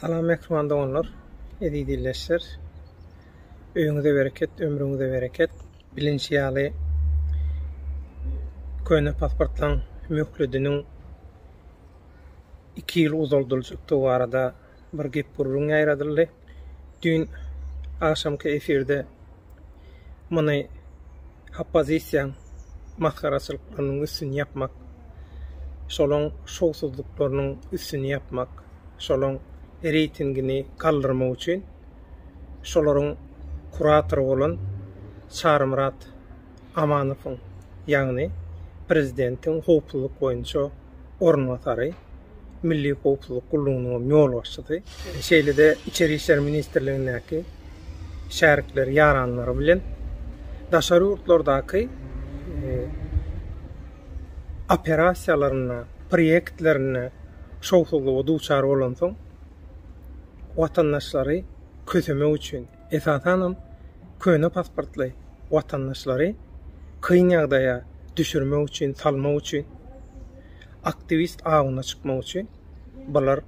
Salam mähriban doganlar, eziz ildeşler. Öýüňize bereket, ömrüňize bereket. Bilinşi ýaly, köne pasportlaryň möhlediniň iki ýyl uzaldyljakdygy barada bir gep-gürrüň ýaýradyldy. Düýn agşamky efirde muny oppozisiýaň masgaraçylyklarynyň üstüni ýapmak, şolaň şowsuzlyklarynyň üstüni ýapmak, şolaň reýtingini galdyrmak üçin şolaryň kuratory bolan Çarymyrat Amanowyň, ýagny prezidentiň howpsuzlyk boýunça orunbasary, Milli howpsuzlyk gullugynyň ýolbaşçysy, şeýle-de Içeri işler ministrligindäki şärikleri, ýaranlary bilen daşary ýurtlardaky operasiýalarynda, proýektlerinde şowsuzlyga duçar bolansoň, watandaşlary kösemek üçin, Esasanam köne pasportly watandaşlary kyn ýagdaýa düşürmek üçin, salmak üçin, aktiwist awuna çykmak üçin bular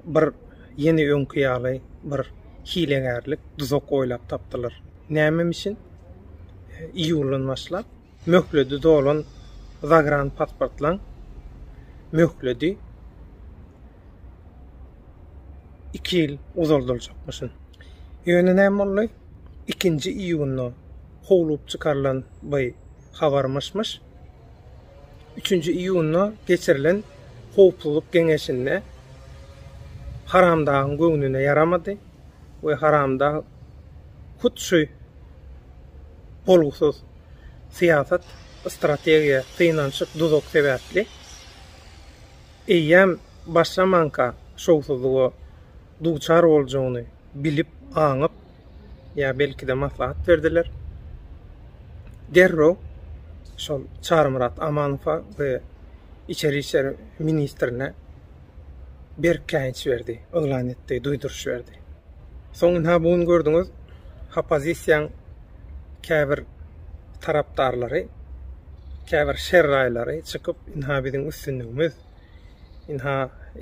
bir ýene öňki ýaly bir hilegärlik, duzak oýlap tapdylar. Nämem üçin iýuldan başlap Möhledi dolan zagranpasportlaň möhledi iki ýyl uzaldyljakmyşyn. Ýöne näme boldy? Ikinji iýunda howlup çykarylan by habar myş-myş. Üçünji iýunda geçirilen Howpsuzlyk geňeşinde Haramdagyň göwnüne ýaramady we Haramdag hut şu bolgusyz syýasat, strategiýa, synanyşyk, duzak sebäpli eýýäm başlamanka şowsuzlyga duçar boljagyny bilip, aňyp, ýa belki-de maslahat berdiler. Derrew şol Çarymyrat Amanowa we içeri işler ministrine berk käýinç berdi, yglan etdi, duýduryş berdi. Soň ynha bu gün gördüňiz, oppozisiýaň käbir tarapdarlary, käbir şerraýlary çykyp, ynha biziň üstünligimiz, ynha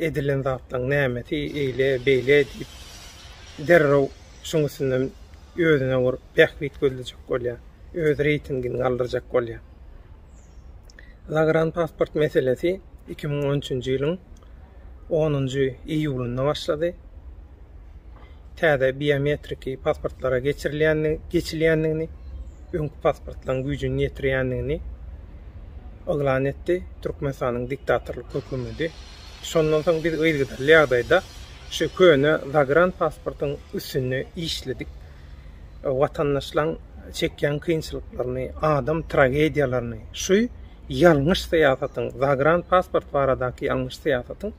edilen zatlaryň nämesi eýle, beýle diýip, derrew şuň üstünden özüne bir bähbit gözlejek bolýar, öz reýtingini galdyrjak bolýar. Zagranpasport meselesi iki müň on üçünji ýylyň onunjy iýulynda başlady. Täze biometriki pasportlara geçilýändigini, öňki pasportlaryň güýjüni ýetirýändigini yglan etdi. Türkmenistanyň diktatorlyk hökümeti. Şondan soň biz yzgytly ýagdaýda şu köne zagranpasportyň üstünde işledik. watandaşlaryň çekýän kynçylyklaryny, adam tragediýalaryny, şu ýalňyş syýasatyň, zagran pasport baradaky ýalňyş syýasatyň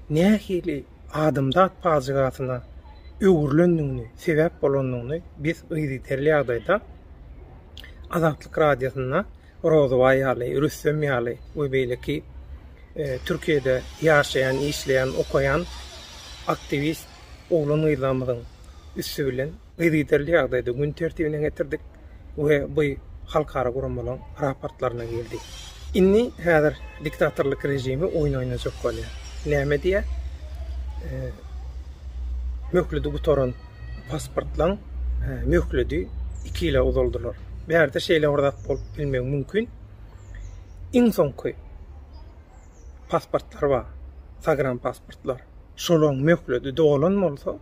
nähili adamzat pajygasyna öwrülendigini, sebäp bolandygyny biz yzygiderli ýagdaýda Azatlyk Radiosynda Rozuba ýaly, Rüstem ýaly we beýleki Türkiýede ýaşaýan, işleýän, okaýan aktiwist oglan-gyzlarymyzyň üsti bilen yzygiderli ýagdaýda gün tertibine getirdik we bu halkara guramalaryň raportlaryna girdi. Indi häzir diktatorlyk režimi oýun oýnajak bolýar. Näme diýýär? Möhledi gutaran pasportlaryň möhledi iki ýyla uzaldylar. Bärde şeýle bir zat bolup bilmegi mümkin. Iň soňky pasportlary bar, sagranpasportlar. Şolaryň möhleti dolan bolsa,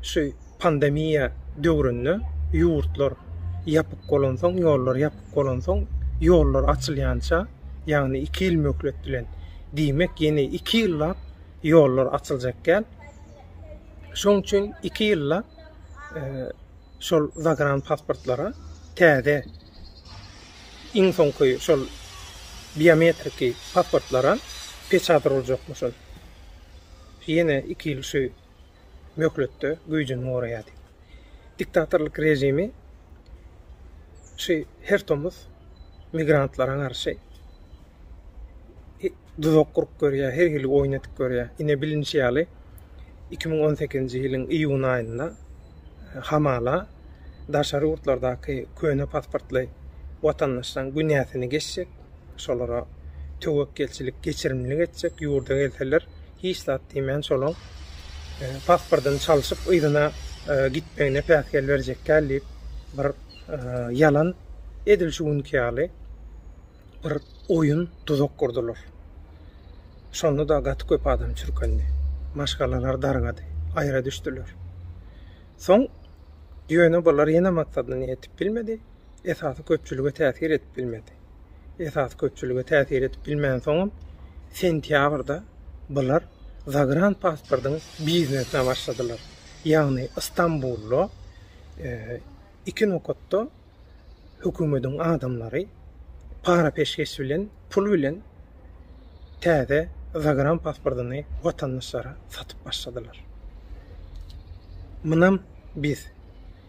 şu pandemiýa döwründe ýurtlar ýapyk bolansoň, ýollar ýapyk bolansoň, ýollar açylýança, ýagny iki ýyl möhlet bilen, diýmek, ýene iki ýyllap ýollar açyljak däl. Şonuň üçin iki ýyllap şol zagranpasportlara täze, Iň soňky şol biometriki pasportlaram peçat uruljakmyş ol. Ýene iki ýyl şu möhletde güýjüni goraýar diýip. Diktatorlyk režimi şu her tomus migrantlara garşy duzak gurup görýär, her hili oýun edip görýär. Ine, bilinişi ýaly, iki müň on sekizinji ýylyň iýun aýynda hamala daşary ýurtlardaky köne pasportly watandaşlaryň günäsini geçjek, şolara töwekgelçilik, geçirimlilik etjek, ýurda gelseler, hiç zat diýmän şolaň pasportyny çalşyp, yzyna gitmegine päsgel berjekkäl diýip, bir ýalan edil şu günki ýaly, bir oýun duzak gurdular. Şonda-da gaty köp adam çürkendi. Maşgalalar dargady, aýra düşdüler. Soň ýöne bular ýene maksadyna ýetip bilmedi, esasy köpçülige täsir edip bilmedi. Esasy köpçülige täsir edip bilmän soňam sentýabrda bular zagran pasportyň biznesine başladylar. Ýagny Istanbulda e, iki nokatda hökümediň adamlary para peşgeş bilen pul bilen täze zagram pasportyny watandaşlara satyp başladylar. Munam biz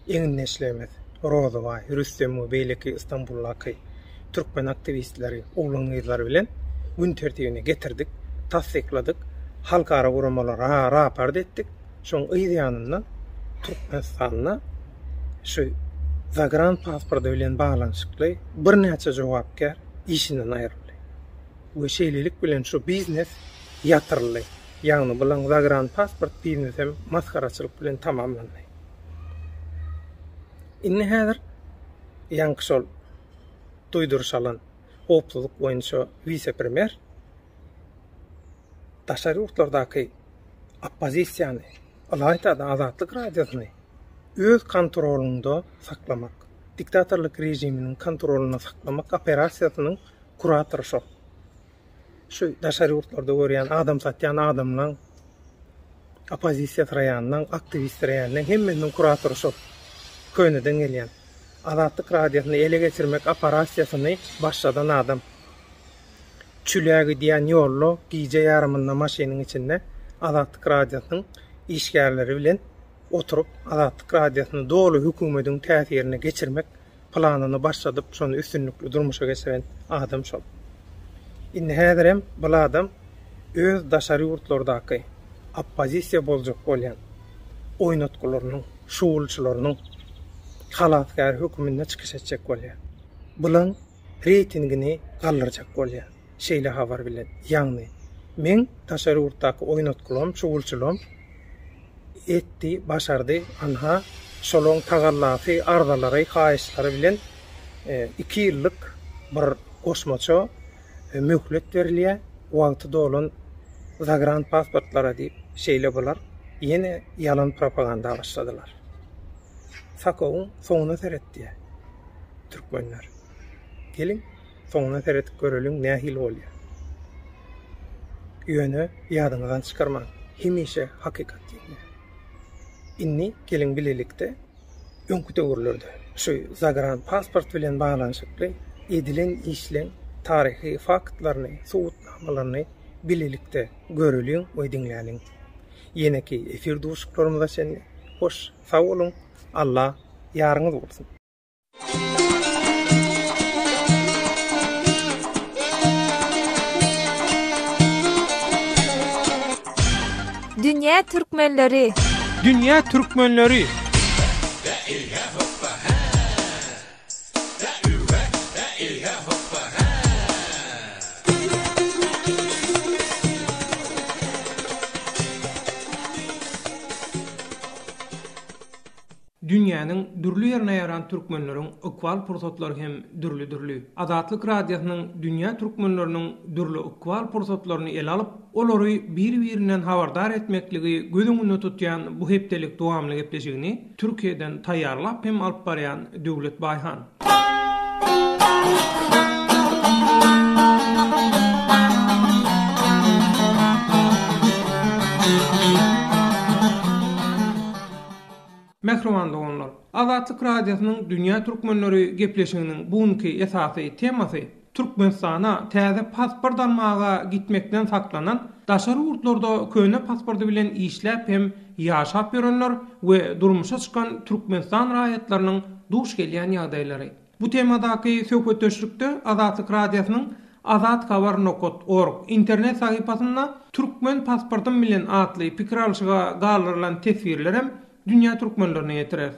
egindeşlerimiz Rozybaý, Rüstem we beýleki Istanbuldaky türkmen aktiwistleri, oglan gyzlary bilen gün tertibine getirdik, tassykladyk, halkara guramalary raport etdik. Şoň yz ýanynda Türkmenistanda şu zagran pasporty bilen baglanyşykly birnäçe jogapkär işinden aýryldy we şeýlelik bilen şu biznes ýatyryldy. Ýagny bulaň zagran pasport biznesem masgaraçylyk bilen tamamlandy. Indi häzir ýaňky şol duýduryş alan howpsuzlyk boýunça wise-premýer daşary ýurtlardaky oppozisiýany, ylaýta-da Azatlyk Radiosyny öz kontrolynda saklamak, diktatorlyk režiminiň kontrolynda saklamak operasiýasynyň kuratory şol. Şu daşary ýurtlarda görýän adam satýan adamlaň, oppozisiýa syraýanlaň, aktiwist syraýanlaň hemmesiniň kuratory şol. Köneden gelýän. Azatlyk Radiosyny ele geçirmek operasiýasyny başladan adam. Çüle gidýän ýolda gije ýarymynda maşynyň içinde Azatlyk Radiosynyň işgärleri bilen oturyp, Azatlyk Radiosyny doly hökümediň täsirine geçirmek planyny başladyp, şony üstünlikli durmuşa geçiren adam şol. Indi häzirem bul adam öz daşary ýurtlardaky oppozisiýa boljak bolýan oýnatgylarynyň, şugulçylarynyň halasgäri höküminde çykyş etjek bolýar. Bulan reýtingini galdyrjak bolýar. Şeýle habar bilen, ýagny meň daşary ýurtdaky oýnatgylym, çuwulçylym etdi, başardy, ynha, şolaryň tagallasy, arzalary, haýyşlary bilen iki ýyllyk bir goşmaça möhlet berilýär, wagty dolan zagran pasportlara diýip, şeýle bular ýene ýalan propaganda başladylar. Sakowyň soňuna seret diýýär. Türkmenler. Geliň, soňuna seredip göreliň nähili bolýar. Ýöne ýadyňyzdan çykarmaň, hemişe hakykat ýeňýär. Indi geliň bilelikde öňki döwürlerde şu zagran pasport bilen baglanyşykly edilen işleň taryhy faktlaryny, subutnamalaryny bilelikde göreliň we diňläliň. Ýeneki efir duşuklarymyza çenli hoş! Sag boluň Allah ýaryňyz bolsun. Dünýä Türkmenleri. Dünýä Türkmenleri. Dünýäniň dürli ýerine ýaran türkmenleriň ykbal pursatlary hem dürli-dürli. Azatlyk Radiosynyň dünýä türkmenleriniň dürli ykbal pursatlaryny ele alyp, olary bir-birinden habardar etmekligi göz öňünde tutýan bu hepdelik dowamly gepleşigini, Türkiýeden taýýarlap hem alyp barýan Döwlet Baýhan. Mähriban doganlar! Azatlyk Radiosynyň Dünýä Türkmenleri gepleşiginiň bu günki esasy temasy Türkmenistana täze pasport almaga gitmekden saklanan, daşary ýurtlarda köne pasporty bilen işläp hem ýaşap ýörenler we durmuşa çykan Türkmenistan raýatlarynyň duş gelýän ýagdaýlary. Bu temadaky söhbetdeşlikde Azatlyk Radiosynyň Azat Habar nokat org internet sahypasynda Türkmen pasportym bilen atly pikir alşyga galdyrylan teswirlerem Dünýä türkmenlerine ýetirer.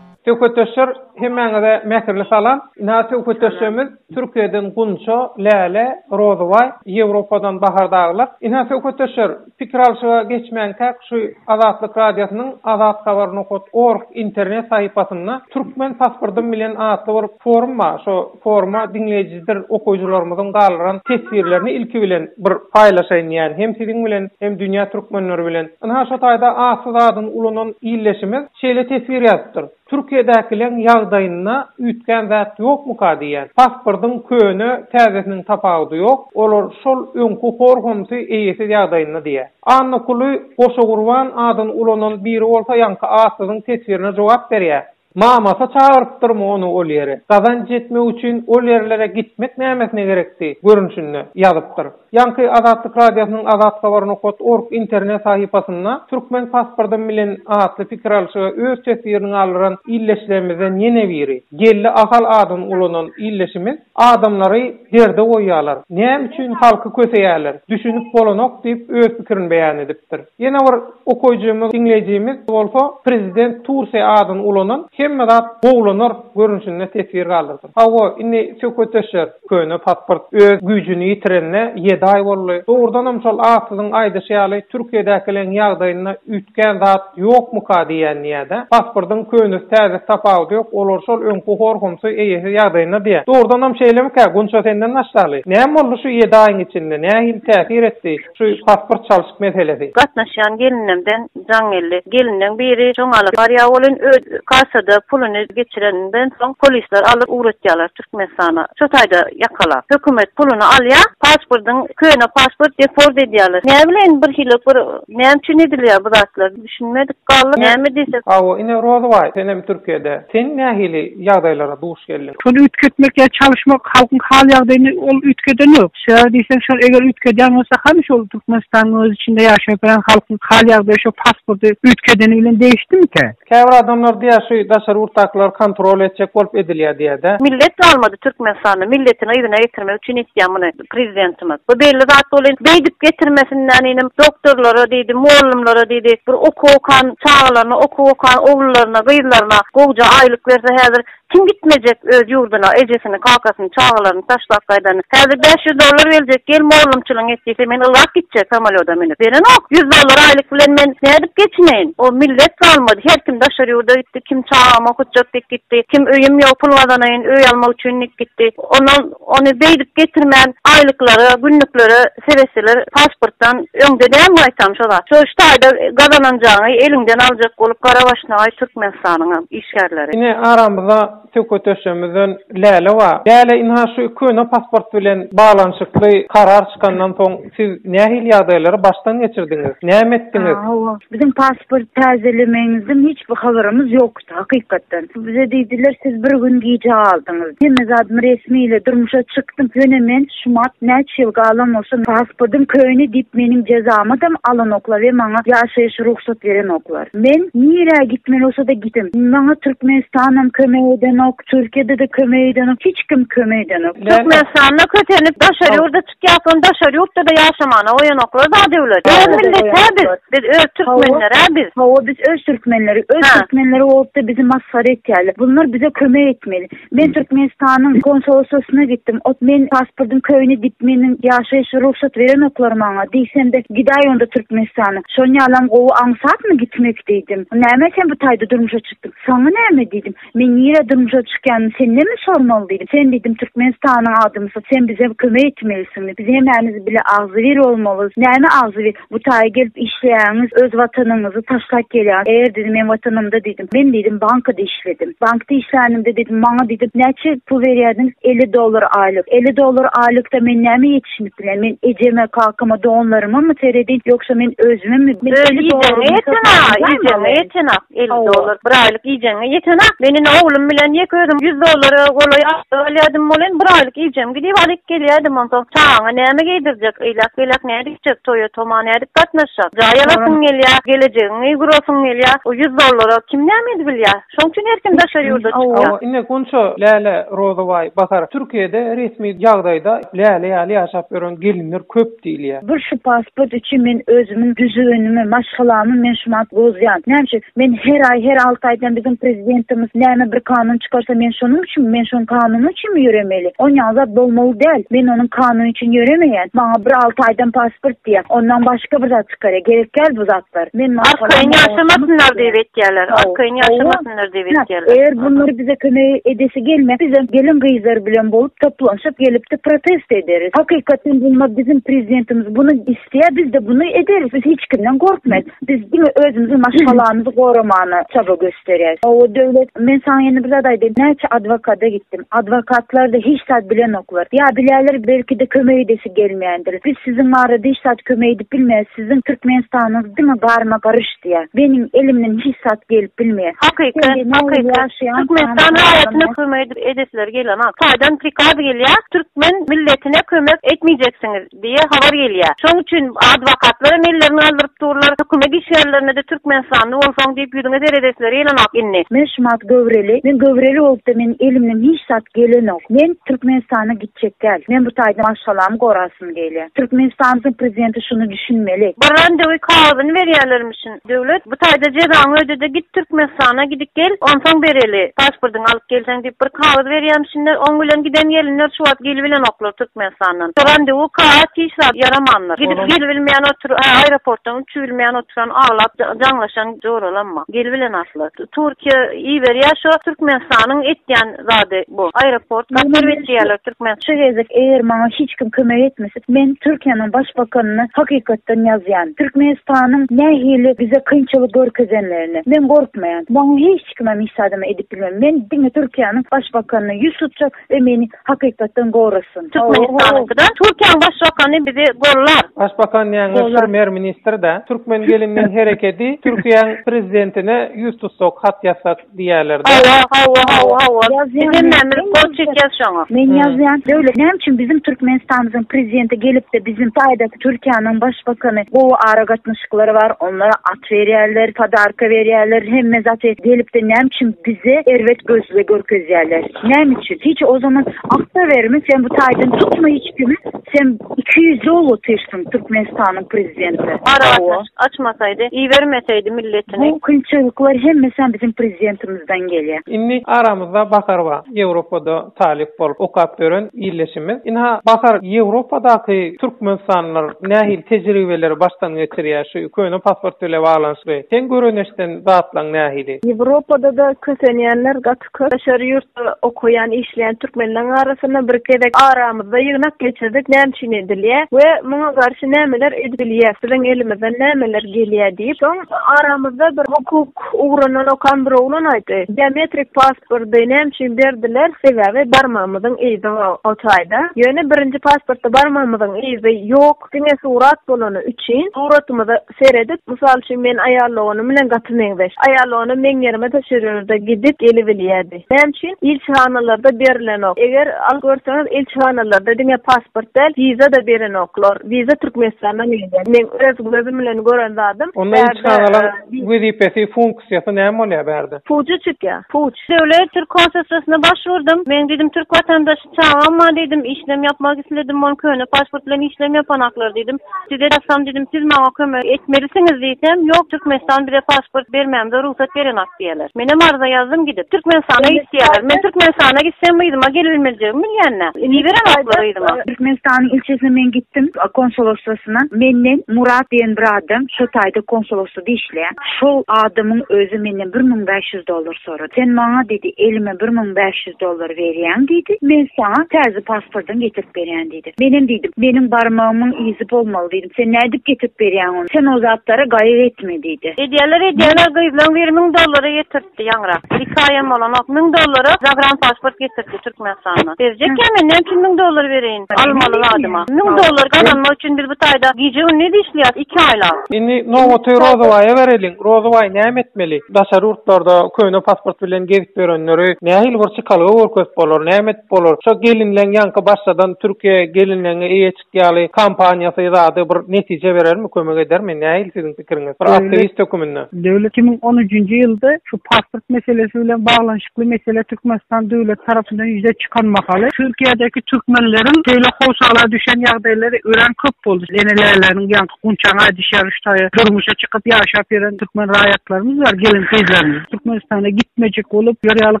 Söhbetdeşler hemmäňize mähirli salam. Ynha söhbetdeşlerimiz Türkiýeden Gunça, Läle, Rozybaý, Ýewropadan Bahar dagylar. Ynha söhbetdeşler Pikir alşyga geçmänkäk şu Azatlyk Radiosynyň azathabarnokat org internet sahypasynda Türkmen pasportym bilen atly bir forum bar. Şo foruma diňleýjidir okyjylarymyzyň galdyran teswirlerini ilki bilen bir paýlaşaýyn diýýän. Hem siziň bilen, hem dünýä türkmenleri bilen. Ynha şo taýda atly zadyny ulanan ildeşimiz şeýle teswir ýazypdyr. Türkiýedäkileň ýagdaýynda üýtgän zat ýokmyka diýýän. Pasportyň köne, täzesiniň tapawudy ýok, olar şol öňki hor homsy eýesiz ýagdaýynda diýýär. Annakuly Goşagurban adyny ulanan biri bolsa ýaňky atsyzyň teswirine jogap berýär. Mamasy çagyrypdyrmy ony ol ýere? Gazanç etmek üçin ol ýerlere gitmek nämesine gerekdi, görünşinde, ýazypdyr. Ýaňky Azatlyk Radiosynyň Azat Habar nokat org internet sahypasynda Türkmen pasportym bilen atly pikir alyşyga öz teswirini galdyran ildeşlerimizden ýene biri, Geldi Ahal adyny ulanan ildeşimiz, Adamlary derde goýýarlar, näme üçin halky köseýärler, düşünip bolanok diýip öz pikirini beýan edipdir. Ýene bir okaýjymyz, diňleýjimiz, bolsa Prezident Tursiýa adyny ulanan, Hemme zat gowulanar görnüşinde teswir galdyrdyr. Hawa, indi söhbetdeşler! Köne pasport öz güýjüni ýitirenine ýedi aý boldy. Dogrudanam şol atsyzyň aýdyşy ýaly Türkiýedäkileriň ýagdaýynda üýtgän zat ýokmyka diýýän diýýädä. Pasportyň könesi täzesi tapawudy ýok, olar şol öňki horgumsy eýesiz ýagdaýynda diýýä. Dogrudanam şeýlemikä Gunça senden başlaly. Näme boldy şu ýedi aýyň içinde, nähili täsir etdi? Şu pasport çalşyk meselesi. Gatnaşýan gelinemden jaň geldi. Gelinleň biri şoň alyp barýa welin öz kassada puluny geçireninden soň polisler alyp ugratýalar Türkmenistana. Şu taýda ýakalap. Hökümet puluny alýa, paspordyň köne pasport deport edýaler. Näbileýin birhili bir näme üçin edilýa bu zatlar. Düşünmedik galdyk. Näme diýsek. Hawa ine Rozybaý senem Türkiýede. Sen nähili ýagdaýlara duş geldiň? Şony üýtgetmek ýa çalyşmak halkyň hal ýagdaýyny ol üýtgedenok. Sebäbi diýseň şony eger üýtgedýän bolsa hany şol Türkmenistanyň öz içinde ýaşap bilen halkyň hal ýagdaýy şo pasporty üýtgedeni bilen degişdimikä? Käbir adamlar diýýär şu daşary ýurtdakylar kontrol etjek bolup edilýär diýýädä. Millet galmady Türkmenistanda milletiňi yzyna getirmek üçin etýä muny. Prezidentimiz. Bu belli zat bol. Beýdip getirmesinden inim doktorlara diýdi, mugallymlara diýdi, bir okuw okan çagalaryna, okuw okan oglullaryna, gyzlaryna gowja aýlyk berse häzir kim gitmejek öz ýurduna, ejesini, kakasyny, çagalaryny taşlap gaýdany. Häzir bäş ýüz dollar berjek, gel mugallymçylygyňy et diýse men ylgap gitjek samolýoda münüp. Berenok. Ýüz dollar aýlyk bilen men nädip geçineýin? O millet galmady. Her kim daşary ýurda gitdi, kim çagamy okutjak diýip gitdi, kim öýüm ýok, pul gazanaýyn, öý almak üçin diýip gitdi. Ondan. Ony beýdip getirmän aýlyklara, günlüklere seretseler pasportdan öňde däl gaýtam şo zat. Şo üç taýda gazananjaňy eliňden aljak bolup gara başlagaý Türkmenistanyňam işgärleri. Ine aramyzda söhbet döşemizden Läle bar. Läle ynha şu köne pasport bilen baglanyşykly karar çykandan soň siz nähili ýagdaýlary başdan geçirdiňiz? Näme etdiňiz? Hawa. Biziň pasport täzelemegiňizden hiç bir habarymyz ýok. Hakykatdan, bize diýdiler, siz bir gün gijä galdyňyz. Hemme zadym resmi ile durmuşa çykdym. Ýöne men şumat näçe ýyl galan bolsa, pasportym köne diýip, meniň jezamydam alanoklar we maňa ýaşaýyş rugsat berenoklar. Men nirä gitmeli bolsa-da gidim. Maňa Türkmenistanam kömek edenok, Türkiýede-de kömek edenok, hiç kim kömek edenok. Türkmenistanda kösenip, daşary ýurda. Ýaşulyny daşary ýurtda-da ýaşamana goýanoklar da döwlet. Öz millet-hä biz. Biz öz türkmenler-ä biz. Hawa, biz öz türkmenleri. Öz türkmenleri bolup-da bizi masgara etýärler. Bunlar bize kömek etmeli. Men Türkmenistanyň konsoloslysyna gitdim. Ot, men pasportyň köýüni dip, meniň ýaşaýyş rugsat berenoklar maňa. Diýsemde, Gidaý onda Türkmenistana. Şonuň ýalam gowy aňsatmy gitmek diýdim. Näme sen bu taýda durmuşa çykdyň? Saňa näme diýdim. Men nirä durmuşa çykýan, sendemi sormaly diýdim. Sen diýdim Türkmenistanyň adamysyň, sen bize kömek etmelisiň. Biz hemämiz bile agzybir bolmalys. Näme agzybir? Bu taýa gelip işleýäňiz, öz watanyňyzy taşlap gelýäňiz. Eger diýdim men watanymda diýdim, men diýdim bankada işledim. Bankda işlänimde diýdim, maňa diýdim näçe pul berýärdiňiz? Elli dollar aýlyk. Elli dollar aýlykda men näme ýetişdirip Şuny bilen men ejeme, kakama, doganlarymamy seredin, ýogsa men özümemi, men elli dollarymy hesaplaýan zaýym bar. Ýetenok, elli dollar, bir aýlyk iýjegiňe ýetenok. Men indi oglum bilen ýeke özüm ýüz dollara golaý aýlyk alýadym, ol hem bir aýlyk iýjegimi gidip alyp gelýädim, onsoň çagaňa näme geýdirjek, eýläk-beýläk nädip içjek, toýa-toma nädip gatnaşjak, jaý alasyň gelýär, gelejegiňi gurasyň gelýär, o ýüz dollara kim näme edibilýär. Şoň üçin her kim daşary ýurda çykýar. Hawa, ine, Gunça, Läle, Rozabaý, Bahar. Türkiýede resmi ýagdaýda Läle ýaly ýaşap ýören gelinler köp diýilýär. Bir şu pasport üçin men özümiň düzgünimi, maşgalamy men şu wagt bozýan. Näme üçin? Men her aý, her alty aýdan biziň prezidentimiz näme bir kanun çykarsa men şonuň üçinmi, men şoň kanuny üçinmi ýöremeli? On ýaly zat bolmaly däl. Men onuň kanuny üçin ýöremeýän. Maňa bir alty aýdan pasport diýýär. Ondan başga bir zat. Çykary gerek däl bu zatlar. Men Arkaýyn ýaşamasynlar diýip etýärler. Arkaýyn ýaşamasynlar diýip etýärler. Eger bunlar bize kömek edesi gelmese bizem gelin gyzlar bilen bolup toplanyşyp gelipdi protest ederis. Hakykatdan bolma biziň prezidentimiz bunu isleýär bizde bunu ederis biz hiç kimden gorkmez. Biz diňe özümiziň maşgalamyzy goramana çaba. Beres. Hawa, Döwlet, men saňa indi bir zat aýdaýyn, näçe adwokata gitdim. Adwokatlar-da hiç zat bilenoklar. Ýa bilerler, belki-de kömek edesi gelmeýändir. Biz siziň barada hiç zat kömek edip bilmeýäs, siziň Türkmenistanyňyz diňe garma-garyş diýýär. Meniň elimden hiç zat gelip bilmeýär. Hakyky, hakyky. Türkmenistan raýatyna kömek edip edesleri gelenok. Taýdan prikaz gelýär, türkmen milletine kömek etmeýjeksiňiz. diýe habar gelýär. Şoň üçin adwokatlaram ellerini galdyryp durlar, hökümet işgärlerine-de türkmenistanly bolsaň diýip ýüzüňe seredesleri gelenok indi. Men şumat göwreli, men göwreli bolupda meniň elimden hiç zat gelenok. Men türkmenistana gitjek däl. Men bu taýda maşgalamy gorasym gelýär. Türkmenistanymyzyň prezidenti şuny düşünmeli. Bir randewy kagyzyny berýärlermişin. Döwlet bu taýda jezaňy öde-de git Türkmenistana gidip gel, onsoň bereli, pasportyňy alyp gelseň diýip bir kagyz berýämişinler, oň bilen giden gelinler şu wagt gelibilenoklar Türkmenistandan. Şu randewu kaat hiç zat ýaramandyr. Gidip gelibilmeýän otur, hä aeroportdan uçubilmeýän oturan aglap jaňlaşan joralamma. Gelibilen asla. Turkiýa iberýär şo Türkmenistanyň etýän zady bu. Aeroport gaçyryp etýärler türkmen. Şu gezek eger maňa hiç kim kömek etmese, men Türkiýäniň başbakanyna hakykatdan ýazýan. Türkmenistanyň nähili bize kynçylyk görkezenlerini. Men gorkmaýan. Maňa hiç kim hem hiç zadam edip bilmez. Men diňe Türkiýäniň başbakanyna ýüz tutjak we meni hakykatdan gorasyn. Türkmenistanyňkydan Türkiýäniň başbakany bizi gollar. Başbakan diýäňiz prmer ministr dä. Türkmen gelinden herekedi Türkiýäň prezidentine ýüz tutsak, hat ýazsak. diýýärler-dä. Hawa, hawa, hawa, hawa. Biz hem nämelik bolup çekýäs şoňa. Men ýazýan döwlet näme üçin biziň Türkmenistanymyzyň prezidenti gelipdi biziň taýdaky Türkiýäniň başbakany gowy aragatnaşyklary bar onlara at berýärler podarka berýärler hemme zaty gelipdi näme üçin bize erbet gözle görkezýärler näme üçin hiç o zaman akda berme sen bu taýdan tutma hiç kimi Sen iki ýüzli bolup otyrsyň Türkmenistanyň prezidenti. Aragatnaşyk açmasaýdy, ibermeseýdi milletini. Bu kynçylyklar hemmesem biziň prezidentimizden gelýä. Indi aramyzda Bahar bar. Ýewropada talyp bolup okap ýören ildeşimiz. Ynha, Bahar, Ýewropadaky türkmenistanlylar nähili tejribeleri başdan geçirýär şu köne pasport bile baglanyşykly? Seň göreneşden zatlaň nähili? Ýewropada-da kösenýänler gaty Köşer ýurtda okaýan, işleýän türkmenleriň arasynda bir gezek aramyzda ýygnak geçirdik, näme üçin edilýär we muňa garşy nämeler edip bilýäris, biziň elimizden nämeler gelýär diýip, soň aramyzda bir hukuk ugrundan okan bir oglan aýtdy, biometrik pasporty näme üçin berdiler, sebäbi barmagymyzyň yzy bar o taýda, ýöne birinji pasportda barmagymyzyň yzy ýok, diňe surat bolany üçin suratymyzy. seredip, mysal üçin, men aýal dogany bilen gaty meňzeş. Aýal dogany meň ýerime daşary ýurda gidip gelibilýärdi. Näme üçin? Ilçihanalarda berilenok. Eger alyp görseňiz, ilçihanalarda diňe pasport däl, wiza-da berenoklar. Wiza Türkmenistandan gelýär. Meň öz gözüm bilen gören zadym. Onda ilçihanalar wezipesi, funksiýasy näme bolýar bärde? Puja çykýar. Puç. Döwlet türk konsulsiýasyna başvurdym. Men diýdim, türk watandaş. Çagam bar diýdim, işlem ýapmak isledim, ol köne pasport bilen işlem ýapanaklar diýdim. Size ýazsam diýdim, siz maňa kömek etmelisiňiz diýsem, ýok, Türkmenistan bize pasport bermämize rugsat berenak diýýärler. Menem arza ýazdym gidip. Türkmenistana git diýýärler. Men Türkmenistana gitsem yzyma gelibilmejegimi bilýän-dä. Iberenaklar yzyma. Türkmenistanyň ilçisine men gitdim, konsolostwasyna. Menden Murat diýen bir adam şo taýda konsolostwada işleýär. Şol adamyň özi menden bir müň bäş ýüz dollar sorady. Sen maňa diýdi, elime bir müň bäş ýüz. Dollar berýäň diýdi. Men saňa täze pasportyňy getirip berýän diýdi. Menem diýdim, meniň barmagymyň yzy bolmaly diýdim. Sen nädip getirip berýäň ony? Sen o zatlara gaýgy etme diýdi. Edýäler, edýäler, gyzlaň biri müň dollary getirtdi ýaňyrak. Bir iki aýam bolanok. Müň dollara zagrandpasport getirtdi Türkmenistandan. Berjekkä men näme üçin müň dollar bereýin almaly zadyma? Müň dollar gazanmak üçin biz bu taýda gije-gündiz işleýäs iki aýlap. Indi nobaty Rozabaýa bereliň. Rozabaý näme etmeli? Daşary ýurtlarda köne pasport bilen gezip Görenleri nähili bir çykalga görkezip bolar, näme edip bolar? Şo gelinleň ýaňky başladan Türkiýe gelinleňe eýe çyk ýaly kampaniýasy zady bir netije berermi, kömek edermi? Nähili siziň pikiriňiz? Bir aktiwist höküminde. Döwlet iki müň on üçünji ýylda şu pasport meselesi bilen baglanyşykly mesele Türkmenistan döwleti tarapyndan ýüze çykan mahaly, Türkiýedäki türkmenleriň şeýle howsala düşen ýagdaýlary örän köp boldy. Enelärleriniň ýaňky Gunçaňa düşýärmiş taýy. Durmuşa çykyp ýaşap ýören türkmen raýatlarymyz bar, gelin-gyzlarymyz. Türkmenistana gitmejek bolup, ýör ýaly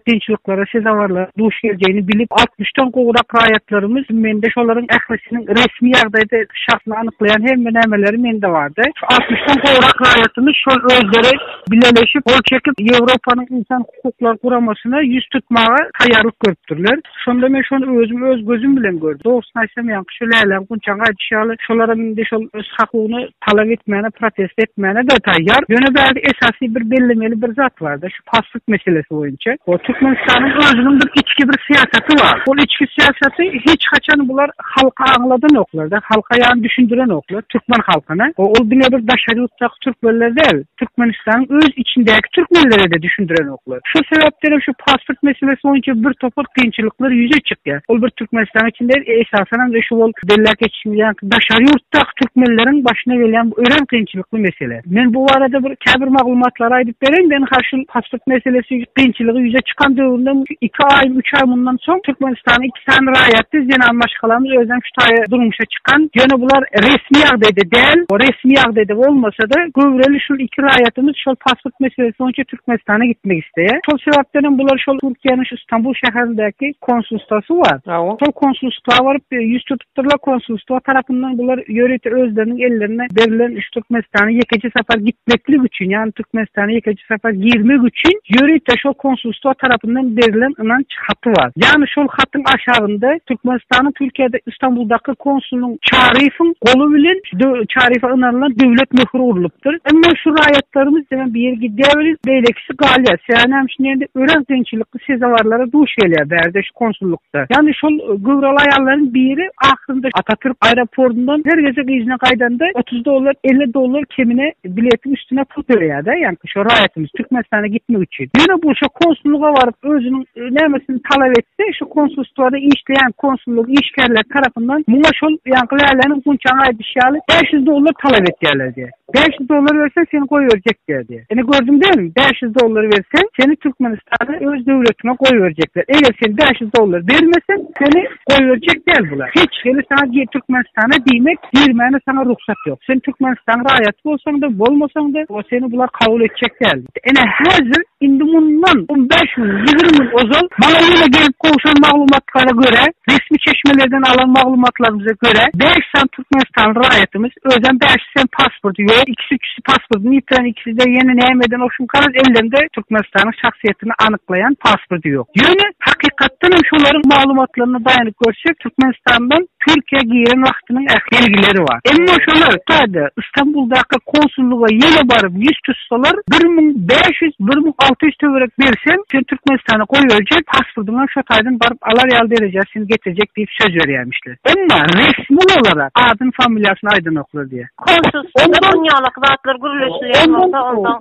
kynçylyklara sezawarlaryň duş geljegini bilip, altmyşdan gowrak raýatlarymyz, mende şolaryň ählisiniň resmi ýagdaýda şahsyny anyklaýan hemme nämeleri mende bardy. Şu altmyşdan gowrak raýatymyz şol özleri bileleşip, gol çekip, Ýewropanyň ynsan Hukuklar guramasyna ýüz tutmaga taýýarlyk görüpdirler. Şonda men şony özüm öz gözüm bilen gördüm. Dogrusyny aýtsam, ýaňky şu Läläň gunçaňy aýdyşy ýaly, şolaram indi şol öz hakugyny talap etmäne, protest etmäne-de taýýar. Ýöne bärde esasy bir bellemeli bir zat bar-da, şu paslyk meselesi boýunça. Hoo, Türkmenistanyň özüniň bir içki bir syýasaty bar. Ol içki syýasaty hiç haçan bular halka aňladanoklar-da, halka ýany düşündirenoklar, türkmen halkyna. Hoo, ol diňe bir daşary ýurtdaky türkmenler däl. Türkmenistanyň öz içindäki türkmenlere-de düşündirenoklar. Şol sebäpden-hem şu pasport meselesi boýunça bir topar kynçylyklar ýüze çykýar. Ol bir Türkmenistanyň içinde däl, esasanam şu ol belläp geçişimiz ýaly daşary ýurtdaky türkmenleriň başyna gelýän bu örän kynçylykly mesele. Men bu barada bir käbir maglumatlary aýdyp bereýin. Men ha şul pasport meselesi kynçylygy ýüze çykan döwründen iki aý, üç aý mundan soň Türkmenistanyň iki sany raýaty zenan maşgalamyz özem şu taýy durmuşa çykan, ýöne bular resmi ýagdaýda däl, resmi ýagdaýda bolmasa-da, göwreli şul iki raýatymyz şol pasport meselesi boýunça Türkmenistana gitmek isleýär. Şol sebäpden hem bular şol Türkiýäniň şu Stambul şäherindäki konsulstwasy bar, şol konsulstwa baryp ýüz tutupdyrlar, konsulstwa tarapyndan bular ýörite özleriniň ellerine berilen şu Türkmenistana ýekeje sapar gitmeklik üçin, ýagny Türkmenistana ýekeje sapar girmek üçin ýörite şol konsulstwa tarapyndan berilen ynanç kiçi haty bar. Ýagny şol hatyň aşagynda Türkmenistanyň Türkiýede Istanbuldaky konsulynyň Çaryýewiň goly bilen şu Çaryýewe ynanylan döwlet möhüri urlupdyr. Emma şu raýatlarymyz diňe biri gidýär welin, beýlekisi galýar. Sebäbi näme üçin diýende, örän kynçylykly sezawarlara duş gelýär bärde şu konsullykda. Ýagny şol göwreli aýallaryň biri ahyrynda Atatürk aeroportundan her gezek yzyna gaýdanda otuz dollar, elli dollar kemine biletiň üstüne pul töleýär-de. Ýagny. Şu raýatymyz Türkmenistana gitmek üçin, ýöne bu şo konsullyga baryp, özüniň nämesini talap etse, şu konsulstwada işleýän konsullyk işgärleri tarapyndan muňa şol ýaňky läläniň gunçagyň aýdyşy ýaly, bäş ýüz dollar talap edýärler diýýär. Bäş ýüz dollar berseň, seni goýberjekdiýär diýýär. Ine, gördüň dälmi? Bäş ýüz dollar berseň, seni Türkmenistana öz döwletiňe goýberjekler. Eger sen bäş ýüz dollar bermeseň, seni. Goýberjek däl bular. Hiç hili saňa gir Türkmenistana diýmek, girmäne saňa rugsat ýok. Sen Türkmenistanyň raýaty bolsaň-da, bolmasaň-da, o seni bular kabul etjek däl. Ine, häzir, indi mundan on bäş gün, ýigrimi gün ozal maňa ýene gelip gowşan maglumatlara görä, resmi çeşmelerden alan maglumatlarymyza görä, bäş sany türkmenistanly raýatymyz, özem bäşisi hem pasporty ýok, ikisi-üçüsi, Pasportyny ýitiren ikiside ýene näme eden oşuňkaraz ellerinde Türkmenistanyň şahsyýetini anyklaýan pasporty ýok. Ýöne hakykatdan hem şolaryň maglumatlaryna daýanyp görsek Türkmenistandan Türkiýä giren wagtynyň ähli belgileri bar. Emma şolar tada Istanbuldaky konsullyga ýene baryp ýüz tutsalar bir müň bäş ýüz, bir müň alty ýüz töwerek berseň seni Türkmenistana goýberjek, pasportyň hem şo taýdan baryp alar ýaly derejä seni getirjek diýip söz berýämişler. Emma resmi olarak adyny familiýasyny aýdanoklar diýýä.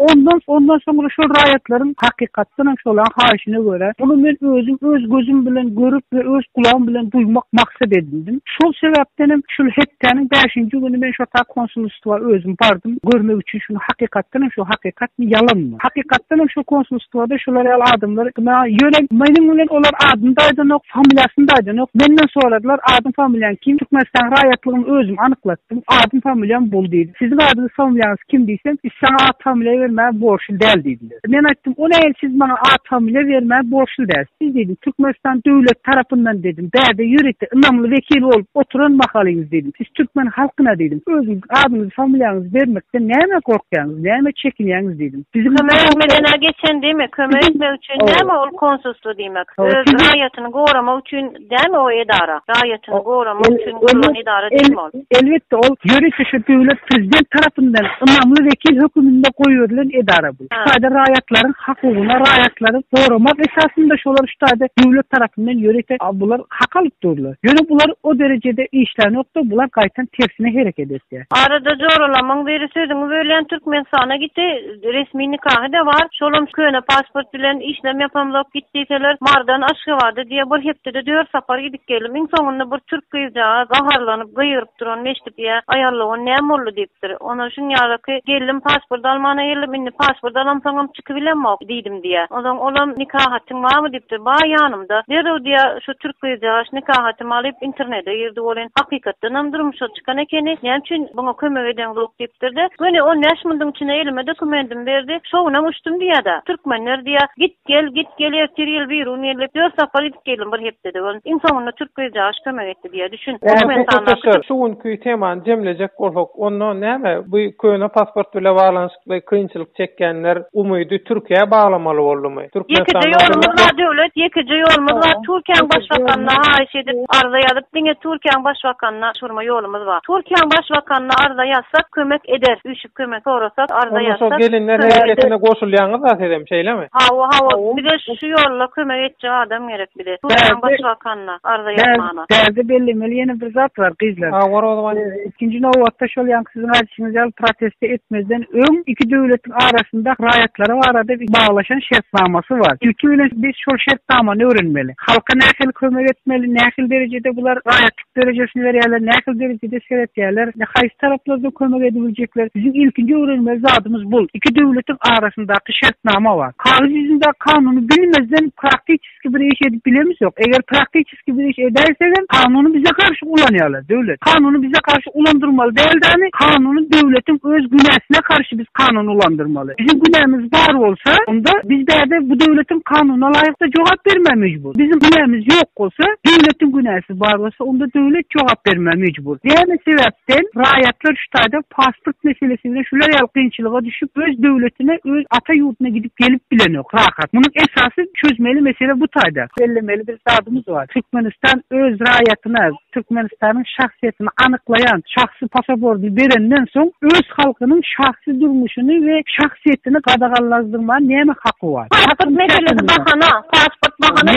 Ondan soňra şol raýatlaryň hakykatdan hem şolaryň haýyşyna görä, muny men özüm öz gözüm bilen görüp we öz gulagym bilen duýmak maksat edindim. Şol sebäpden hem şul hepdäniň bäşinji güni men şo ta konsulstwa özüm bardym, görmek üçin şuny hakykatdan hem şo hakykatmy, ýalanmy. Hakykatdan hem şo konsulstwada şular ýaly adamlar ýa ýöne meniň bilen olar adyny-da aýdanok, familiýasyny-da aýdanok. Menden soradylar, Adyň-familiýaň kim? Türkmenistanyň raýatlygymy özüm anyklatdym. Meniň adym-familiýam bol diýdi. Siziň adyňyz-familiýaňyz kim diýsem, Biz saňa at-familiýa bermäge borçly däl diýdiler. Men aýtdym, O näme siz maňa at-familiýa bermäge borçly däl. Siz diýdim, Türkmenistan döwleti tarapyndan diýdim, bärde ýörite ynamly wekil bolup oturan mahalyňyz diýdim, siz türkmen halkyna diýdim, özüňiziň adyňyzy-familiýaňyzy bermekden nämä gorkýaňyz, nämä çekinýäňiz diýdim. Biziň Kömek etmegine geçen diýmek, kömek etmek üçin näme ol konsulstwo diýmek? Öz raýatyny goramak üçin Dämi o edara? Raýatyny goramak üçin gurlan edara dälmi ol? Elbetde, ol ýörite şu döwlet Prezident tarapyndan ynamly wekil höküminde goýberilen edara bu. Şu taýda raýatlaryň hakugyna, raýatlary goramak esasynda şolar şu taýda döwlet tarapyndan ýörite bular hak alyp durlar. Ýöne bular o derejede işlänokda, bular gaýtam tersine hereket etýär. Arada joralamyň biri sözüňi bölýän Türkmenistana gitdi. Resmi nikahy-da bar, şolam köne pasport bilen, işlem ýapamzok, git diýseler, Marydan Aşgabada diýýär, bir hepdede dört sapar gidip geldim, iň soňunda bir türk gyzjagaz gaharlanyp, gygyryp duranyny eşidip, ýa, aýallygyň näme boldy diýipdir, ondan şuň ýalyky, geldim, pasport almana geldim, indi pasport alamsoňam çykybilemok diýdim diýýär, onsoň olam, nikahatyň barmy diýipdir, bar ýanymda, derrew diýýär, şu türk gyzjagaş nikahatymy alyp, internede girdi welin, hakykatdanam durmuşa. çykan ekeni, näme üçin muňa kömek edeňzok diýipdir-de, göni on bäş mundyň içine elime dokumendimi berdi, şo günam uçdum diýýär-de. Türkmenler diýýär, git gel, git gel, ertir ýyl bir gün geldik, dört sapar gidip geldim bir hepdede bolun, iň soňunda türk gyzjagaş kömek etdi diýýär, düşün, Şu günki temany jemlejek bolsak, onda näme, bu köne pasport bile baglanyşykly. we kynçylyk çekýänler umydy Türkiýä baglamaly boldumy? Ýekeje ýolumyz bar döwlet, ýekeje ýolumyz bar. Türkiýäň başbakanyna haýyş edip arza ýazyp diňe Türkiýäň başbakanyna çygrma ýolumyz bar. Türkiýäň başbakanyna arza ýazsak kömek eder, üýşüp kömek sorasak, arza ýazsak. Onda şol gelinler hereketine goşulýaňyzda sizem şeýlemi? Hawa hawa bize şu ýolda kömek etjek adam gerek bize. Türkiýäň başbakanyna arza ýazmana. Bärde bellemeli ýene bir zat bar gyzlar. Hawa Rozwan. Ikinji nobatda şol ýaňky Siziň aýdyşyňyz ýaly, protesti etmezden öň iki döwletiň arasynda raýatlary barada baglaşan şertnamasy bar. Ilki bilen biz şol şertnamany öwrenmeli. Halka nähili kömek etmeli, nähili derejede bular raýatlyk derejesini berýärler, nähili derejede seretýärler, haýsy taraplardan kömek edibiljekler. Biziň ilkinji öwrenmeli zadymyz bul. Iki döwletiň arasyndaky şertnama bar. Kagyz ýüzündäki kanuny bilmezden praktiçeski bir iş edip bilemizok. Eger praktiçeski Praktiki bir iş edäýsegem, kanuny bize garşy ulanýarlar, döwlet. Kanuny bize garşy ulandyrmaly däldämi? Kanuny döwletiň öz günäsine garşy biz kanuny ulandyrmaly. Biziň günämiz bar bolsa, onda biz bärde bu döwletiň kanuna laýykda jogap bermä mejbur. Biziň günämiz ýok bolsa, döwletiň günäsi bar bolsa, onda döwlet jogap bermä mejbur. Näme sebäpden raýatlar Hytaýda pasport meselesi bilen şular ýaly kynçylyga düşüp, öz döwletine, öz ata ýurduna gidip gelip bilenok rahat. Munuň esasy çözmeli mesele bu taýda. Bellemeli bir zadymyz bar. Türkmenistan öz raýatyna, Türkmenistanyň şahsyýetini anyklaýan şahsy pasaporty berenden soň, öz halkynyň şahsy durmuşyny we şahsyýetini gadaganlazdyrmaga näme haky bar? Pasport meselesi bahana, pasport bahana.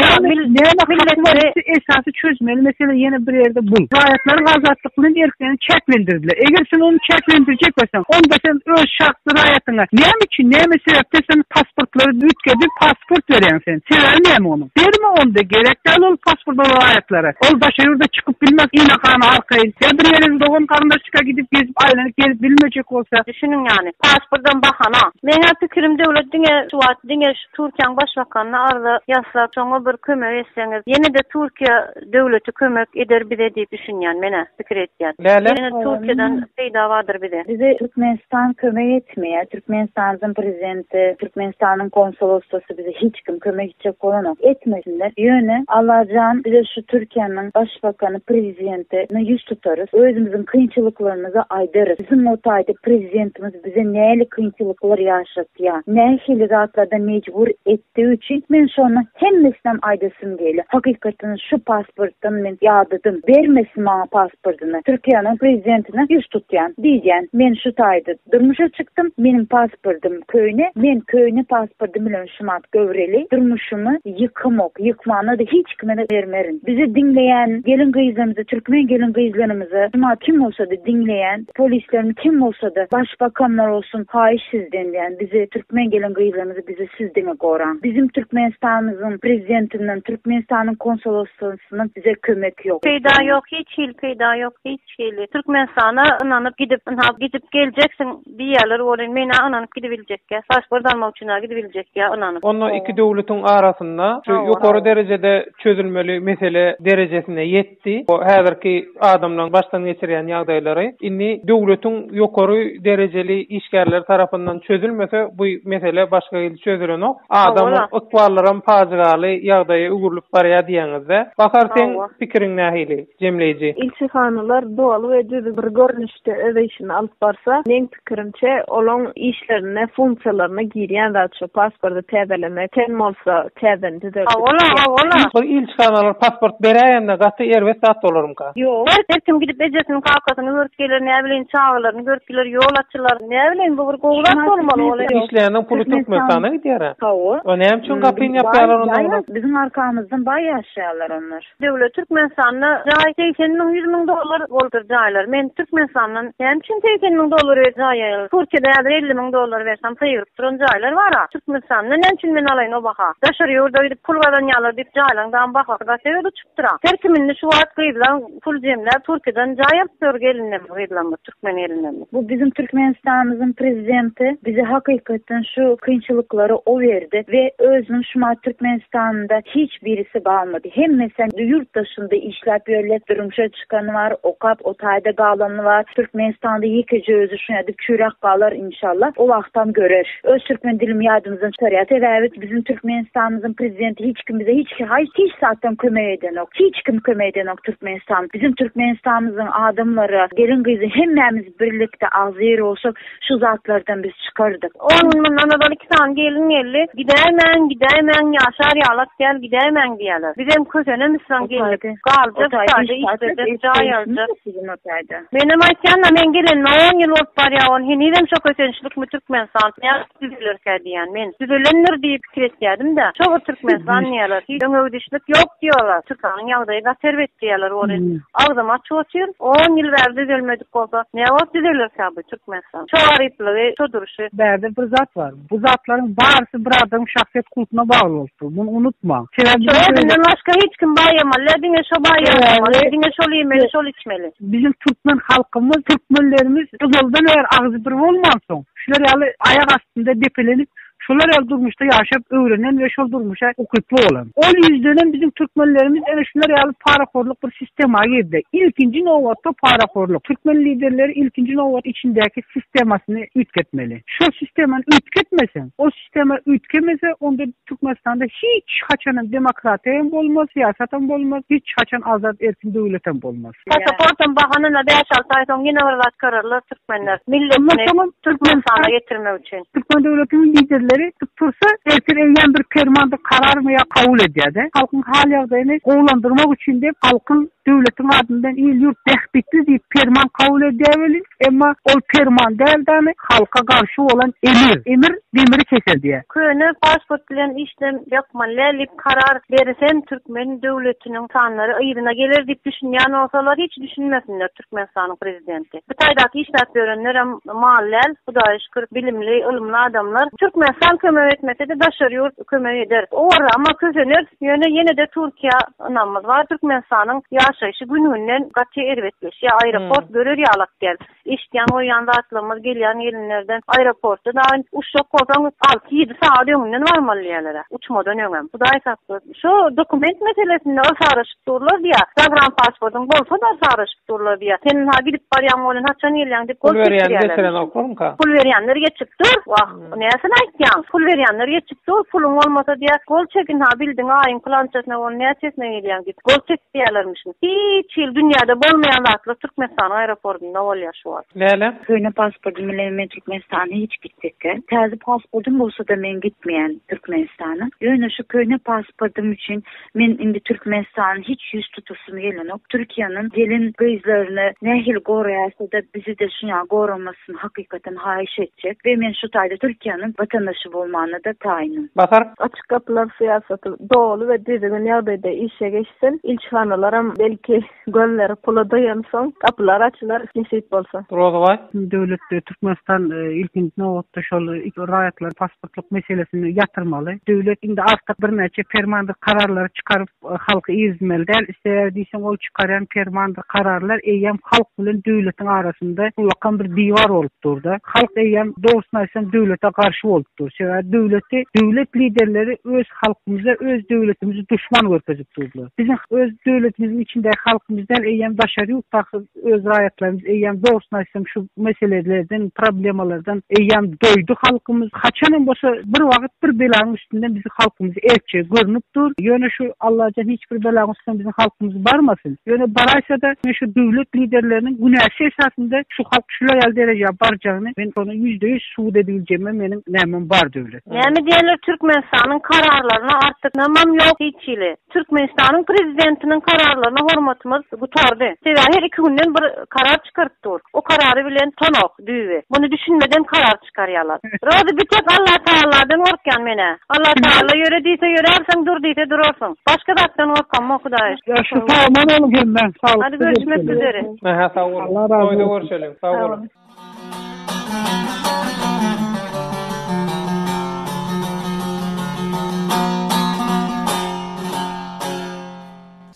Näme haky bar? Esasy çözmeli mesele ýene bir ýerde bul. Raýatlaryň azatlygyny. Türkmen erkini çäklendirdiler. Eger sen ony çäklendirjek bolsaň, onda sen öz şahsy raýatyňa näme üçin, näme sebäpden sen pasportlary üýtgedip, pasport berýäň sen? Sebäbi näme onuň? Berme onda, gerek däl ol pasport ol raýatlara. Ol daşary ýurda çykyp bilmez ynakama arkaýyn. Ýa bir ýere dogan-garyndaşlyka gidip, gezip, aýlanyp gelip bilmejek bolsa? Düşüniň ýany, pasportam bahana. Meň-ä pikirim döwlet diňe şu wagt diňe şu Türkiýäň başbakanyna arza ýaslap, şoňa bir kömek etseňiz, ýene-de Türkiýe Döwleti kömek eder bize diýip düşünýän menä pikir etýän. Bälem Ýene Türkiýeden peýda bardyr bize. Bize Türkmenistan kömek etmeýär. Türkmenistanyň prezidenti, Türkmenistanyň konsoloslasy bize hiç kim kömek etjek bolanok. Etmesinler. Ýöne Allajan bize şu Türkiýäniň başbakany, prezidenti na ýüz tutarys. Özümiziň kynçylyklarymyzy aýdarys. Biziň o taýda prezidentimiz bize näli kynçylyklar ýaşatýar. Nähili zatlarda mejbur et. Digi üçin men şony hemmesinem aýdasym gelýär. Hakykatdan şu pasportdan men ýadadym. Bermesin maňa pasportyny. Türkiýäniň prezidentine ýüz tutýan. Diýýän, men şu taýda durmuşa çykdym, meniň pasportym köýne, men köýne pasportym bilen şumat göwreli, durmuşymy ýykamok, ýykmana-da hiç kime-de bermerin. Bizi diňleýän gelin-gyzlarymyza, türkmen gelin-gyzlarymyza, şumat kim bolsa-da diňleýän. Polislerimiz kim bolsada başbakam bolsun haýyş sizden diýän bize türkmen gelin gyzlarymyzy bizi siz diňe goraň bizim türkmenistanymyzyň prezidentinden türkmenistanyň konsoloslygynyň bize kömek ýok. Peýda ýok hiç hili peýda ýok hiç hili türkmenistana ynanyp gidip ynha gidip geljeksiň diýýäler welin men a ynanyp gidibiljekýa pasport almak üçin a gidibiljekýa ynanyp. Onda iki döwletiň arasynda şu ýokary derejede çözülmeli mesele derejesine ýetdi. etdi. Häzirki adamlaryň başdan geçirýän ýagdaýlary indi döwletiň ýokary derejeli işgärleri tarapyndan çözülmese, bu mesele başga hili çözülenok. Adamyň ykballaram pajygaly ýagdaýa öwrülip barýar diýýäňiz-dä. Bahar, seň pikiriň nähili, jemleýji? Ilçihanalar doly we düzüw bir görnüşde öz işini alyp barsa, Pikirimçe, olaň işlerine, funksiýalaryna girýän zat şu, pasporty täzelemek, ten bolsa täzeden düzeldip. Hawa-la, hawa-la. Ol ilçihanalar pasport beräýende gaty erbet zat bolarmyka? Ýok. Her kim gidip ejesini, kakasyny görüp geler, näbileyim, çagalaryny görüp geler, ýol açylar. Näbileyim, bu bir gowy zat bolmaly ol. Işleýäniň puly Türkmenistana gidýär-ä. Hawa. Näme üçin gapyny ýapýarlar onda olar? Biziň arkamyzdan baý ýaşaýarlar onlar. Döwlet Türkmenistanda jaý segsen müň ýüz müň dollar bolupdyr jaýlar men Türkmenistandan näme üçin segsen müň dollar berip jaý aýaly Türkiýede häzir elli müň dollar bersem sygyryp duran jaýlar bara Türkmenistanda näme üçin men alaýyn o baha daşary ýurda gidip pul gazanýalar diýip jaýlaň dam bahasy gaty uçupdyra her kim indi şu wagt gyzlaň pul jemläp Türkiýeden jaý alyp ýör gelinlerimiz gyzlarymyz Türkmen elinden. Bu biziň Türkmenistanymyzyň prezidenti bize hakykatdan şu kynçylyklary o berdi we özüniň şumat Türkmenistanynda hiç birisi galmady. Hemmesi ýurt daşynda işläp ýörler. Durmuşa çykany bar, okap o taýda galany bar. Türkmenistanda ýekeje özi şuňa dip çüýräp galar inşallah. O wagtam görer. Öz türkmen dilimi ýadymyzdan çykarýas sebäbi biziň türkmenistanymyzyň prezidenti hiç kim bize hiç haýs hiç zatdan kömek edenok hiç kim kömek edenok türkmenistan biziň türkmenistanymyzyň adamlary gelin gyzy hemmämiz birlikde agzybir bolsak şu zatlardan biz çykardyk. On gün mundan ozal iki sany gelin geldi gidäýmäň gidäýmäň ýaşar ýalak däl gidäýmäň diýýäler bizem kösenemisraň geldik galjak sadä iş berjek jaý aljak. Günortaýda. Menem aýtýan-da, men gelenime on ýyl bolup barýar, ony henizem şo kösençlikmi Türkmenistan nädip düzelerkä diýýän. Men düzelendir diýip pikir etýädim-dä. Şo bir Türkmenistan diýýärler. Hiç öňegidişlik ýok diýýärler. Türkmeniň ýagdaýy gaty erbet diýýärler. Ony agzym açyp otyr. On ýyl bäri düzelmedik bolsa, näwagt düzelerkä bu Türkmenistan? Şo garyplygy, şo durşy. Bärde bir zat bar. Bu zatlaryň barysy bir adamyň şahsyýet kultuna bagly bolup dur. Muny unutmaň. Sebäbi Şo özünden başga hiç kim baýamaly däl, diňe şo baýamaly, diňe şol iýmeli, şol içmeli. Biziň türkmen halkymyz, türkmenlerimiz yzyldan bäri agzy bir bolmansoň, şular ýaly aýak astynda depelenip, şular ýaly durmuşda ýaşap öwrenen we şol durmuşa ukyply bolan. Ol ýüzden hem biziň türkmenlerimiz ene şular ýaly parahorluk bir sistema girdi. Ilkinji nobatda parahorluk. Türkmen liderleri ilkinji nobat içindäki sistemasyny üýtgetmeli. Şol sistemany üýtgetmeseň, ol sistema üýtgemese, onda Türkmenistanda hiç haçanam demokratiýam bolmaz, syýasatam bolmaz, hiç haçan azat erkin döwletem bolmaz. Pasaportam bahanyna bäş-alty aý soň ýene bir zat körerler türkmenler. Milletini Türkmenistana getirmek üçin. Türkmen döwletiniň liderleri tutup tursa, ertir eýýäm bir permandyr kararmy ýa kabul edýär-de. Halkyň hal-ýagdaýyny gowulandyrmak üçin diýip, halkyň Döwletiň ady bilen il-ýurt bähbitli diýip perman kabul edýär welin, emma ol perman däl däli, halka garşy bolan emir. Emir demiri keser diýýär. Köne pasport bilen işlem ýokman lälik karar berisem türkmen döwletiniň sanlary yzyna geler diýip düşünýän bolsalar hiç düşünmesinler türkmenistanyň prezidenti bu taýdaky işläp ýörenlerem mal däl hudaýa şükür bilimli ylymly adamlar türkmenistan kömek etmesede daşary ýurt kömek eder. Olar ama kösener, ýöne ýene-de Türkiýä ynamymyz bar. Türkmenistanyň ýaşaýşy gün-günden gaty erbetleşýär. Aeroport görer ýalak däl. Eşitýän-goýýan zatlarymyz gelýär gelinlerden. Aeroporta daýy uçjak bolsaň alty-ýedi sagat öňünden barmaly diýýärler-ä, uçmadan öňem. Hudaý saklasyn. Şu dokument meselesinde yrsaraşyp durlar diýýär. Zagrampasportyň bolsa-da yrsaraşyp durlar diýýär. Sen ha gidip barýaň bolan, haçan gelýäň diýip gol çekdirýärlermiş. Pul berýänler getirenoklarmyka? Pul berýänler geçip dur. Wah. Näsini aýtýaň? Pul berýänler geçip dur, puluň bolmasa diýýär, gol çekin ha, bildiň aýyň pylançasyna onuň näçesine gelýäň diýip, gol çek diýýärlermişin. Hiç hili dünýäde bolmaýan zatlar Türkmenistanyň aeropordynda bolýar şu wagt. Läle. Köne pasportym bilen men Türkmenistana hiç gitjekkä. Täze pasportym bolsa-da men gitmeýän Türkmenistana. Ýöne şu köne pasportym üçin Men indi Türkmenistana hiç ýüz tutasym gelenok. Türkiýäniň gelin gyzlaryny nähili goraýasada bizide şuňa goramasyn hakykatan haýyş etjek we men şu taýda Türkiýäniň watandaşy bolmanada taýynym. Bahar. Açyk gapylar syýasaty doly we düzgün ýagdaýda işe geçsin. Ilçihanalaram belki Gözleri pula doýansoň, gapylar açylar, nesip bolsa. Rozabaý. Döwletde Türkmenistan ilkinji nobatda şol raýatlaryň pasportlyk meselesini ýatyrmaly. Döwlet indi artyk birnäçe permandyr kararlary çykaryp, halky irizmeli däl. Sebäbi diýseň, ol çykarýan permandyr kararlar eýýäm halk bilen döwletiň arasynda ullakan bir diwar bolup dur-da. Halk eýýäm, dogrusyny aýtsaň, döwlete garşy bolup dur. Sebäbi döwleti, döwlet liderleri öz Halkymyza öz döwletimizi duşman görkezip durlar. Biziň öz döwletimiziň içindäki halkymyz däl, eýýäm daşary ýurtdaky öz raýatlarymyz, eýýäm dogrusyny aýtsam şu meselelerden, problemalardan eýýäm doýdy halkymyz. Haçan hem bolsa bir wagyt bir belaň üstünden biziň halkymyz erkje görnüp dur. Ýöne şu Allajan hiç bir belaň üstüne biziň halkymyzy barmasyn. Ýöne baraýsa-da men şu döwlet liderleriniň günäsi esasynda şu halk şular ýaly derejä barjagyny men şony ýüzde ýüz subut edibiljegime meniň nämem bar döwlet. Näme diýenler Türkmenistanyň kararlaryna artyk namam ýok hiç hili. Türkmenistanyň prezidentiniň kararlaryna hormatymyz gutardy. Sebäbi her iki günden bir karar çykaryp dur. O karary bilen tonok, düýbi. Muny düşünmeden karar çykarýalar. Rozy bir tek Allah Tagalladan gorkýan menä. Allah Tagalla ýöre diýse ýörärsiň, dur diýse durarsyň. Başga zatdan gorkamok Hudaý. Ýaşyl sagamon boluň hemmä. Saglyk Hadi görüşmek üzere. Aha sag boluň. Toýda görşeliň. Sag boluň.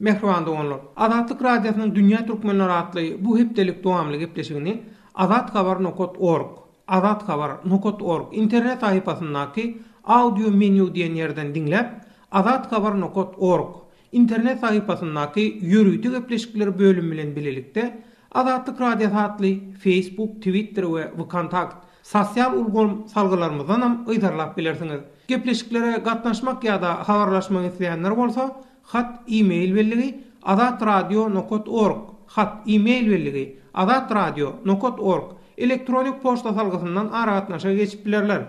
Mähriban doganlar! Azatlyk Radiosynyň Dünýä Türkmenleri atly bu hepdelik dowamly gepleşigini Azat Habar nokat org, azathabar nokat org, internet sahypasyndaky Audio Menu diýen ýerden diňläp, Azat Habar nokat org, Internet sahypasyndaky Ýörite gepleşikler bölümi bilen bilelikde, Azatlyk Radiosy atly Facebook, Twitter we Vkontakt sosial ulgam salgylarymyzdanam yzarlap bilersiňiz. Gepleşiklere gatnaşmak ýa-da habarlaşmak isleýänler bolsa, hat, e-mail belligi, azatradio nokat org, hat, e-mail belligi, azatradio nokat org, elektronik poçta salgysyndan aragatnaşyga geçip bilerler.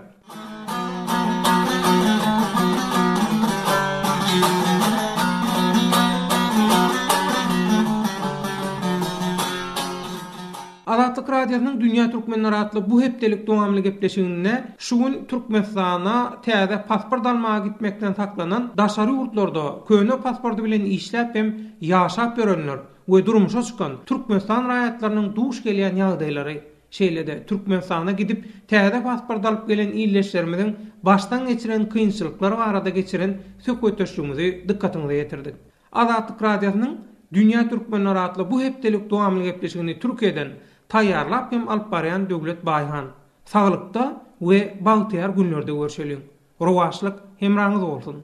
Azatlyk Radiosynyň Dünýä Türkmenleri atly bu hepdelik dowamly gepleşiginde şu gün Türkmenistana täze pasport almaga gitmekden saklanan daşary ýurtlarda köne pasporty bilen işläp hem ýaşap ýörenler we durmuşa çykan Türkmenistan raýatlarynyň duş gelýän ýagdaýlary Şeýle-de, Türkmenistana gidip, täze pasport alyp gelen ildeşlerimiziň başdan geçiren kynçylyklary barada geçiren söhbetdeşligimizi dykgatyňyza ýetirdik. Azatlyk Radiosynyň Dünýä Türkmenler atly bu hepdelik dowamly gepleşigini Türkiýeden taýýarlap hem alyp barýan Döwlet Baýhan. Saglykda we bagtyýar günlerde görşeliň! Rowaçlyk hemraňyz bolsun!